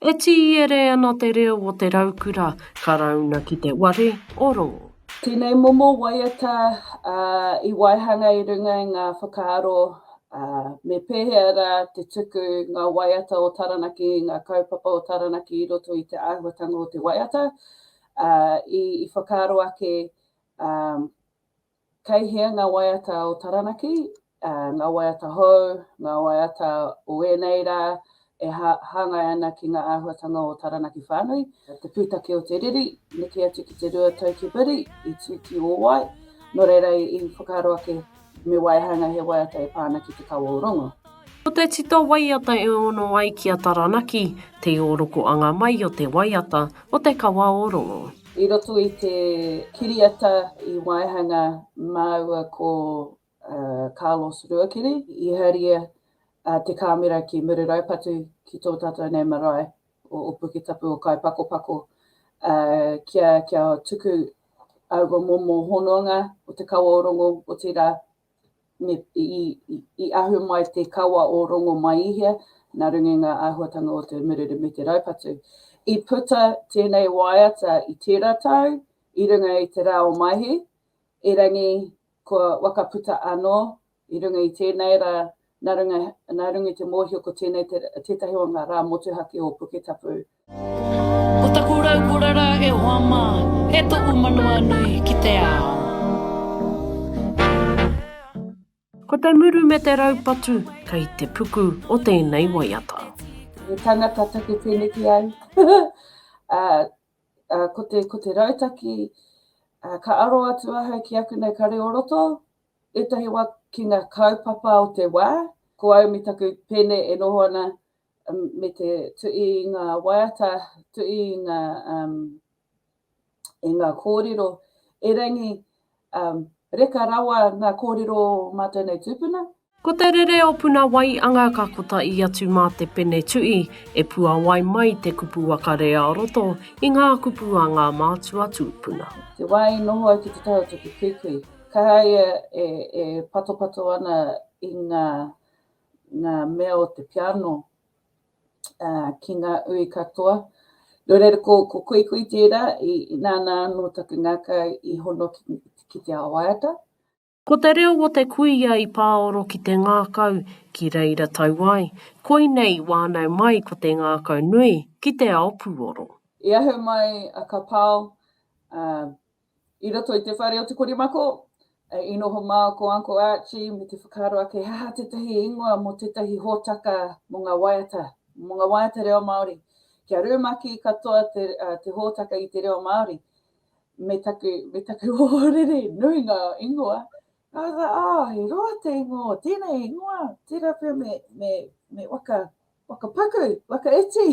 E tīere ana te reo o te raukura Karauna ki te ware o Rongo. Tēnei momo waiata i waihanga i runga i ngā whakaaro me pēhea rā te tuku ngā waiata o Taranaki, ngā kaupapa o Taranaki i roto i te āhuatanga o te waiata. I whakaaro ake Kei hea ngā waiata o Taranaki, ngā waiata hou, ngā waiata o ēnei rā e hāngai ana ki ngā āhuatanga o Taranaki whānui? Te pūtake o te riri, neke atu ki te rua tau ki muri, i tū ki ō wai, nō reira i whakaaro ake me waihanga he waiata e pā ana ki te kawa o Rongo. Ko te tito waiata e ono ai ki a Taranaki, te iorokoanga mai o te waiata o Te Kawaorongo. I roto i te kiriata i waihanga māua ko Carlos Ruakiri, i haria te kāmera ki Mururaupatu ki tō tātou nei marae o Opuke Tapu o Kaipakopako, kia tuku aua momo hononga o Te Kawaorongo, otirā, me i ahu mai te kawa o Rongomaihia, nā runga i ngā āhuatanga o te mururu me te raupatu. I puta tēnei waiata i tērā tau i runga i te rā o Maihi, erangi kua wakaputa anō i runga i tēnei rā, nā runga i te mōhio ko tēnei tētahi o ngā rā motuhake o Puketapu. Ko taku rau ko rara e hoa ma, e toku manawa nui ki te ao. Ko te muru me te raupatu kei te puku o tēnei waiata. He tangata take teneki au ko te ko te rautaki ka aro atu ahau ki aku nei kare o roto etahi wa ki nga kaupapa o te wa ko au me taku pene e noho ana me te tuʻi i ngā waiata, tuʻi i ngā, um, i ngā kōrero, erangi, um, reka rawa ngā kōrero o mātou nei tūpuna. Ko te rere o Puna Waianga ka kotahi atu mā te pene tuʻi e puawai mai te kupu waka re a roto i ngā kupu a ngā mātua tūpuna. Te wā i noho ai ki te taha o Tukituiki, kaha ia e, e patopato ana i ngā ngā mea o te piano ki ngā ui katoa. Nō reira, ko, ko Kuikui tērā, i, i nāna anō taku ngākau i hono ki, ki te ao waiata. Ko te reo o te kuia i pāoro ki te ngākau, ki reira tau ai, koinei i wānau mai ko te ngākau nui ki te ao pūoro. I ahu mai a Kapao, ā, I roto i te whare o te korimako, i noho mā ko Uncle Archie me te whakaaro ake he aha tētahi ingoa mō tētahi hōtaka mō ngā waiata, mō ngā waiata reo Māori. Kia rumaki katoa te, uh, te hōtaka i te reo Māori, me taku, me taku ohorere, nui ngā ingoa, Arā, he roa te ingoa o tēnei ingoa, tērā pea me wakapaku, wakaiti,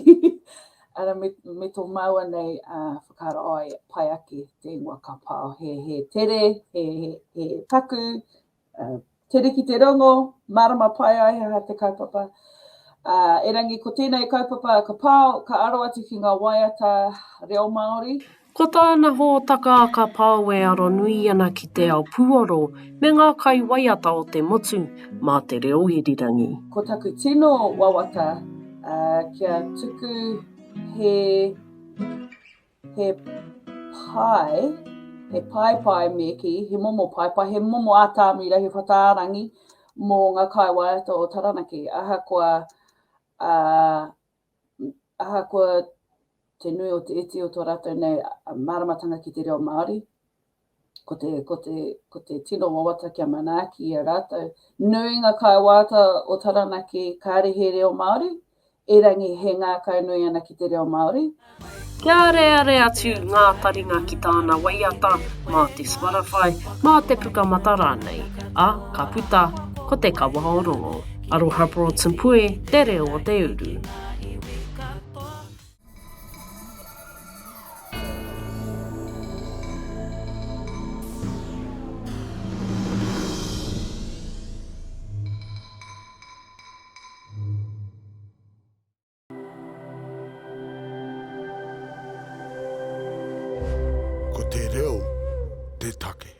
arā, me tō māua nei whakaaro ai, pai ake te ingoa ka pao, he tere, he paku, tere ki te rongo, mārama pai ai he aha te kaupapa. Erangi, ko tēnei kaupapa ka pao, ka aro atu ki ngā waiata reo Māori, Ko tāna hōtaka ka pao e aronui ana ki te ao puoro me ngā kai waiata o te motu mā te reo irirangi. Ko taku tino wawata kia tuku he he pae, he pae pae me ki, he momo pae pae, he momo ātāmira, he whataarangi mō ngā kai waiata o Taranaki. Ahakoa ahakoa te nui o te iti o tō rātou nei māramatanga ki te reo Māori, ko te, ko te, ko te tino wawata kia manaaki i a rātou. Nui ngā kāwāta o Taranaki kāre he reo Māori, erangi he ngākau nui ana ki te reo Māori. Kia areare atu ngā taringa ki tāna waiata mā te Spotify, mā te Pukamata rānei, ā, ka puta ko Te Kawa o Rongo. Aroha Broads and Pue, te reo o te uru. Ko te reo te take.